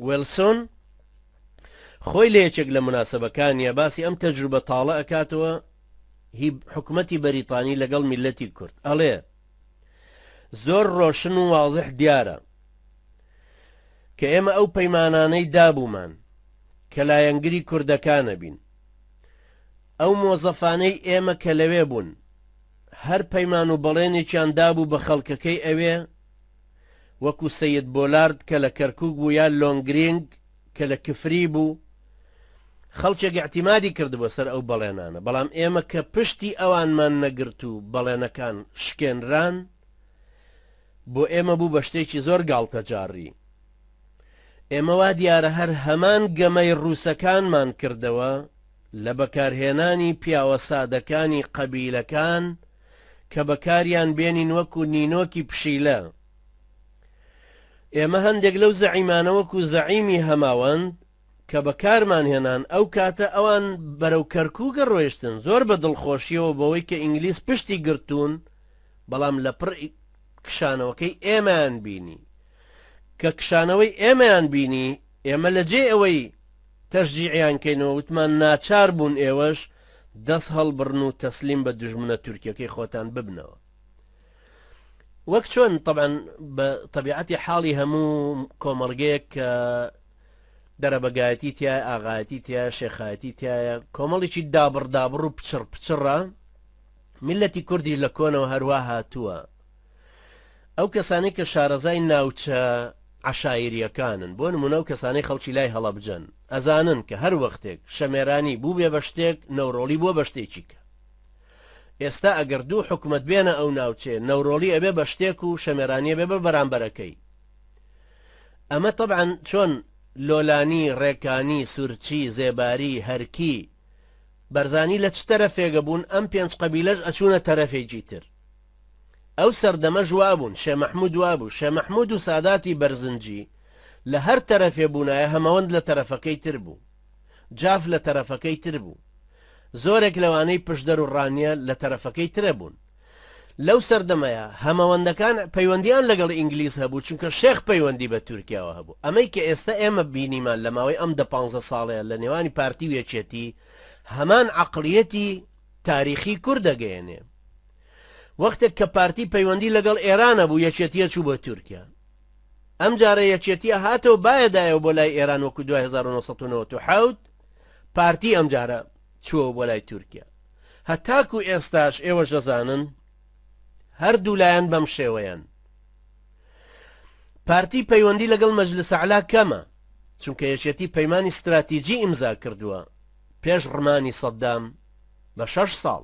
ویڵسۆن خۆی لە یەکێک لە موناسەبەکانیا باسی ئەم تەجروبە تاڵە ئەکاتەوە هی حکومەتی بەریتانی لەگەڵ میللەتی کورد ئەڵێ زۆر ڕۆشن و واضح دیارە کە ئێمە ئەو پەیمانانەی دابوومان کە لایەنگری کوردەکانە بین ئەو مۆزەفانەی ئێمە کە لەوێ بوون هەر پەیمان و بەڵێنێکیان دابوو بە خەڵکەکەی ئەوێ وەکو سەید بۆلارد کە لە کەرکوک بوو یا لۆنگرینگ کە لە کفری بوو خەڵکێک ئیعتیمادی کردبوە سەر ئەو بەڵێنانە بەڵام ئێمە کە پشتی ئەوانمان نەگرت و بەڵێنەکان شکێنران بۆ ئێمە بوو بە شتێکی زۆر گاڵتەجاڕی ئێمە وا دیارە هەر هەمان گەمەی ڕووسەکانمان کردەوە لە بەکارهێنانی پیاوە سادەکانی قەبیلەکان کە بەکاریان بێنین وەکو نینۆکی پشیلە. ئێمە هەندێک لەو زەعیمانە وەکو زەعیمی هەماوەند کە بەکارمان هێنان ئەو کاتە ئەوان بەرەو کەرکوکە ڕۆیشتن زۆر بە دڵخۆشیەوە بەوەی کە ئینگلیز پشتی گرتوون بەڵام لە پڕ کشانەوەکەی ئێمەیان بینی کە کشانەوەی ئێمەیان بینی ئێمە لە جێی ئەوەی تەشجیعیان کەینەوە وتمان ناچار بوون ئێوەش دەست هەڵبڕن و تەسلیم بە دوژمنە تورکیەکەی خۆتان ببنەوە وەک چۆن طبعا بە طبیعەتی حاڵی هەموو کۆمەڵگەیەک کە دەرەبەگایەتی تایە ئاغایەتی تایە شێخایەتی تایە کۆمەڵێکی دابڕدابڕ و پچڕ پچڕە میلەتی کوردی لە کۆنەوە هەروە هاتووە ئەو کەسانەی کە شارەزای ناوچە عەشایریەکانن بۆ نمونە ئەو کەسانەی خەڵکی لای هەڵەبجەن ئەزانن کە هەر وەختێک شەمێرانی بوبێ بە شتێک نەورۆڵی بوە بە شتێکی کە ئێستا ئەگەر دوو حکومەت بێنە ئەو ناوچێ نەورۆڵی ئەبێ بە شتێک و شەمێرانیە بێ بە بەرامبەرەکەی ئەمە طبعاً چۆن لۆلانی ڕێکانی سورچی زێباری هەرکی بەرزانی لە چ تەرەفێگە بوون ئەم پێنج قەبیلەش ئەچوونە تەرەفێکی تر ئەو سەردەمەش وابوون شێ مەحمود وابوو شێ مەحمود و ساداتی بەرزنجی لە هەر تەرەفێ بوونایە هەمەوەند لە تەرەفەکەی تر بوو جاف لە تەرەفەکەی تر بوو زۆرێک لەوانەی پشدەر و ڕانیە لە تەرەفەکەی ترە بوون لەو سەردەمەیە هەمەوەندەکان پەیوەندیان لەگەڵ ئینگلیز هەبوو چونکە شێخ پەیوەندی بە تورکیاوە هەبوو ئەمەی کە ئێستا ئێمە بینیمان لە ماوەی ئەم دە پانزە ساڵەیە لە نێوانی پارتی و یەکێتی هەمان عەقڵیەتی تاریخی کور دەگەیەنێ وەختێک کە پارتی پەیوەندی لەگەڵ ئێران هەبوو یەکێتیە چوو بۆ تورکیا ئەم جارە یەکێتیە هاتەوە بایە دایەوە بۆ لای ئێران وەکو دوای 1997 پارتی ئەم جارە چووەوە بۆ لای تورکیا هەتاکو ئێستاش ئێوە ژەزانن هەردوو لایەن بەم شێوەیەن پارتی پەیوەندی لەگەڵ مەجلس علا کەمە چونکە یەکێتی پەیمانی استراتیجی ئیمزا کردووە پێش ڕمانی سەددام بە شەش ساڵ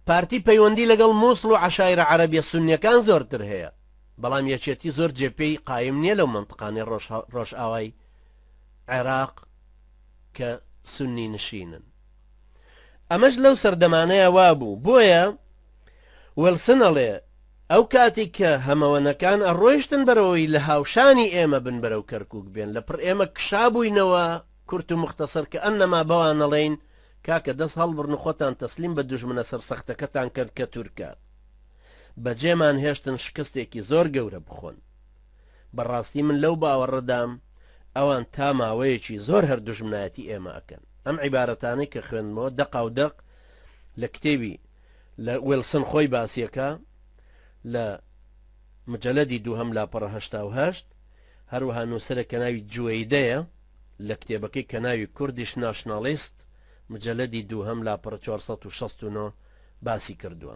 پارتی پەیوەندی لەگەڵ موسڵ و عەشایرە عەرەبیە سوننیەکان زۆرتر هەیە، بەڵام یەکێتی زۆر جێ پێی قایم نیە لەو مەنتقانەی ڕۆژئاوای عێراق کە سوننی نشینن. ئەمەش لەو سەردەمانەیا وابوو، بۆیە ویڵسن ئەڵێ ئەو کاتی کە هەمەوەنەکان ئەڕۆیشتن بەرەوەی لە هاوشانی ئێمە بن بەرەو کەرکوک بێن لە پڕ ئێمە کشابووینەوە کورت و مختصر کە ئەنەما بەوان ئەڵێین کاکە دەست هەڵبڕن و خۆتان تەسلیم بە دوژمنە سەرسەختەکەتان کەن کە تورکە بەجێمان هێشتن شکستێکی زۆر گەورە بخۆن بەڕاستی من لەو باوەڕەدام ئەوان تا ماوەیەکی زۆر هەر دوژمنایەتی ئێمە ئەکەن ئەم عیبارەتانەی کە خوێندمەوە دەقا و دەق لە کتێبی لە وێلسن خۆی باسیەکە لە مجلدی دووهەم لاپەڕە هەشتا و هەشت هەروەها نووسەرە کە ناوی جوەیدەیە لە کتێبەکەی کە ناوی کوردیش ناشناڵیست، مجەلەدی دووهەم لاپەڕە چوار سەد و شەست و نۆ، باسی کردووە.